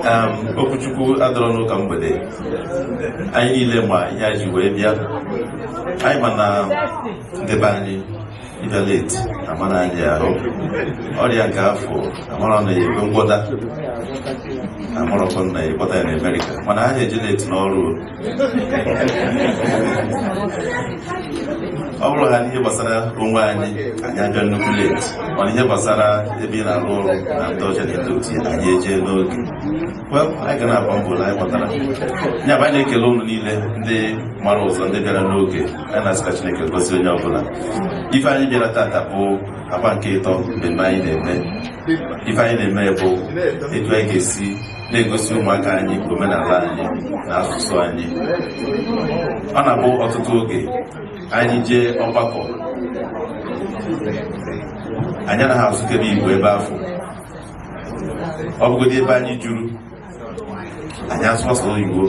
um, okwu Chukwu adịrọ n'ụka mgbede anyị niile ma ihe anyị ji wee bịa anyị ma na ndị be anyị ịbịa leti amara anyị ahụ ọrịa nke afụ amarọ na ebe ngwọta amarọkọ na ịkpọta ya na Amerịka mana ha anaghị eje leti n'ọrụ ọ bụrụ na ihe gbasara onwe anyị anyị abịa nnukwu leti mana ihe gbasara ebe ị na-arụ ọrụ na ndị ọcha na-eto otu anyị ejee n'oge anyị ga na-agba mbọ na anyị kpọtara ya bụ anyị na-ekele ụnụ niile ndị mara ụzọ ndị bịara n'oge anyị na-asị ka Chineke gọzie onye ọbụla ife anyị bịara tata bụ agba nke ịtọ mmemme anyị na-eme ife anyị na-eme bụ etu anyị ga-esi na-egosi ụmụaka anyị omenala anyị na asụsụ anyị ọ na-abụ ọtụtụ oge anyị jee ọgbakọ anyị anaghị asụkebe igbo ebe afụ ọ bụgodị ebe anyị juru anyị asụ sọ oyibo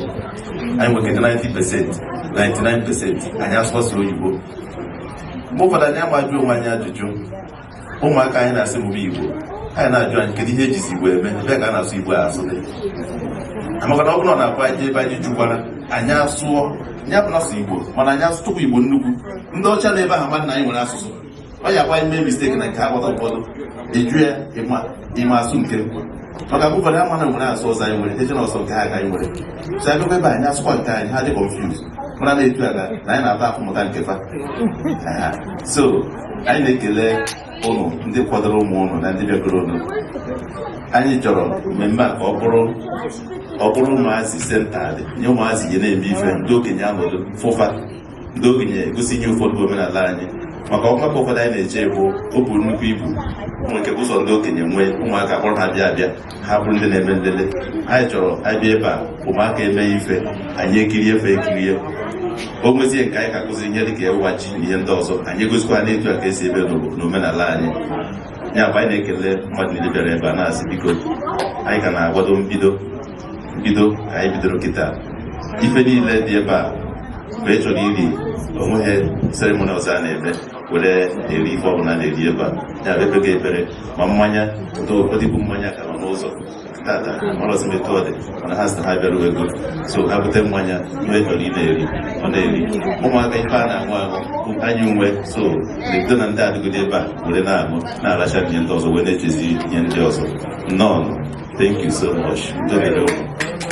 anyị nwekere 90 pesenti 99 pesenti anyị asụ sọ oyibo mgbe ụfọdụ anyị ajụọ onwe anyị ajụjụ ụmụaka anyị na-asị mgbe igbo anyị na-ajụ anyị kedu ihe ejizi igbo eme ebee ka a na-asụ igbo asụ dị maka na ọ bụrụ na akwa anyị ebe anyị jukwara anyị asụọ ya bụ asụ igbo mana anyị asụtụkwa igbo nnukwu ndị ọcha na ebe ahụ mmadụ na anyị nwere asụsụ ọ ya kwa ime misteki na nke agbata ụfọdụ ịjụ ya ịma asụ nke maka mgbe ụfọdụ ama na nwere asụ ọzọ anyị nwere eche na ọ sọ nke ha ka anyị nwere so anyị ebe anyị asụkwa nke anyị ha dị confused mara na-etu ala na anyị na-ata afụfụ mụta nke fa so anyị na-ekele ụnụ ndị kpọtara ụmụ ụnụ na ndị bịakọrọ ọnụ anyị chọrọ mmemme a ka ọ bụrụ ọ bụrụ ụmụazị centered nye ụmụazị ji na-eme ife ndị okenye anọdụ fụ fa ndị okenye egosi ihe ụfọdụ bụ omenala anyị maka ọgbakọ ụfọdụ anyị na-eje bụ o buru nnukwu ibu nwere ike ụzọ ndị okenye nwee ụmụaka bụrụ na ha bịa abịa ha bụrụ ndị na-eme nlele anyị chọrọ abịa ebe a ụmụaka eme ife anyị ekirie fa ekirie o nwezie nke anyị ga-akụzi ihe dịka ịwa ji na ihe ndị ọzọ anyị egosikwa ha na etu a ka esi eme n'omenala anyị ya bụ anyị na-ekele mmadụ niile bịara ebe a na-asị biko anyị ka na-akwado mbido mbido ka anyị bidoro kịta ife niile dị ebe a mgbe ị chọrọ iri onweghị seremoni ọzọ a na-eme were eri ife ọbụla na-eri ebe a ya bụ ekpego ekpere ma mmanya ụtọ ụfọdụ bụ mmanya ka nọ n'ụzọ tata amarọzi m etu ọ dị mana ha sị na ha abịarugo nso ha bute mmanya onye chọrọ ị na-eri ọ na-eri ụmụaka ife a na-aṅụ aṅụ bụ anyị nwe so na-ebido na ndị adịgide ebe a were na-aṅụ na-aracha ihe ndị ọzọ wee na-echezi ihe ndị ọzọ nnọọ thank you so much Udo dịrị ụnụ.